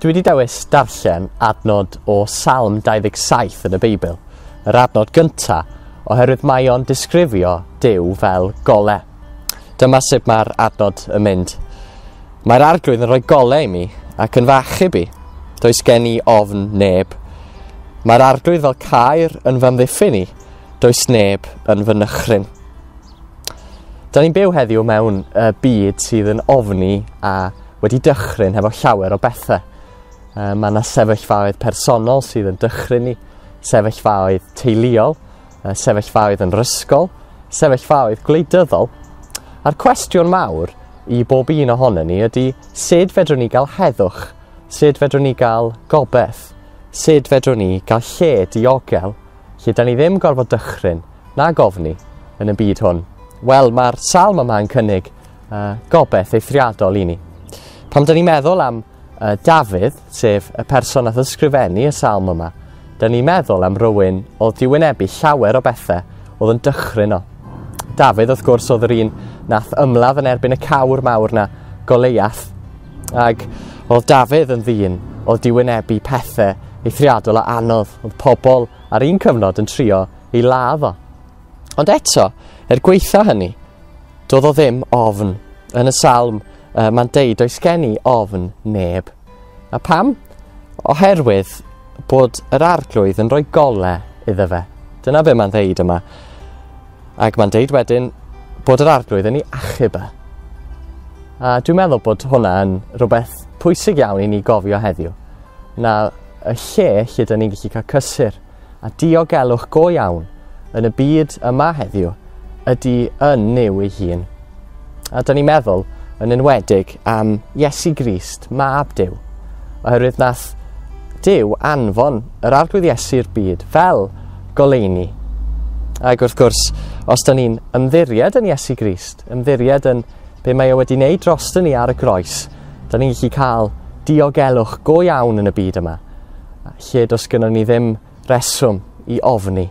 Dwi wedi dewis darllen adnod o Salm 27 yn y Beibl, yr adnod gynta, oherwydd mae o'n disgrifio Dyw fel gole. Dyma sut mae'r adnod yn mynd. Mae'r arglwydd yn rhoi gole i mi ac yn fach i bi. Does gen i ofn neb. Mae'r arglwydd fel cair yn fy amddiffyn i, Does neb yn fy nychryn. Da ni'n byw heddiw mewn uh, byd sydd yn ofni a wedi dychryn hefo llawer o bethau. Uh, mae yna sefyllfaoedd personol sydd yn dychryn ni, sefyllfaoedd teuluol, uh, sefyllfaoedd yn rysgol, sefyllfaoedd gwleidyddol. A'r cwestiwn mawr i bob un ohono ni ydy sut fedrwn ni gael heddwch, sut fedrwn ni gael gobeith, sut fedrwn ni gael lle diogel Lle dan ni ddim gorfod dychryn, na gofni, yn y byd hwn. Wel, mae'r salm yma yn cynnig uh, gobeith eithriadol i ni. Pam dan ni'n meddwl am uh, Dafydd, sef y person a ysgrifennu y salm yma, dan ni'n meddwl am rywun oedd di wynebu llawer o bethau oedd yn dychryn o. Dafydd, wrth gwrs, oedd yr un nath ymladd yn erbyn y cawr mawr na Goleiath, Ac oedd Dafydd yn ddyn oedd di wynebu pethau eithriadol a anodd, oedd pobl ar un cyfnod yn trio ei ladd o. Ond eto, er gweitha hynny, doedd o ddim ofn. Yn y salm, uh, mae'n deud oes gen i ofn neb. A pam? Oherwydd bod yr arglwydd yn rhoi gole iddo fe. Dyna be mae'n ddeud yma. Ac mae'n deud wedyn bod yr Arglwydd yn ei achub e. A dwi'n meddwl bod hwnna yn rhywbeth pwysig iawn i ni gofio heddiw, na y lle lle dyn ni'n gallu cael cysur a diogelwch go iawn yn y byd yma heddiw ydy yn Nuw ei hun. A dyn ni'n meddwl yn enwedig am Iesu Grist, mab Dyw, oherwydd nath Dyw anfon yr Arglwydd Iesu i'r byd fel goleini. Ac wrth gwrs, os dyn ni'n ymddiried yn Iesu Grist, ymddiried yn be mae o e wedi wneud dros dyn ni ar y groes, dyn ni'n gallu cael diogelwch go iawn yn y byd yma, lle dos gynnon ni ddim reswm i ofni.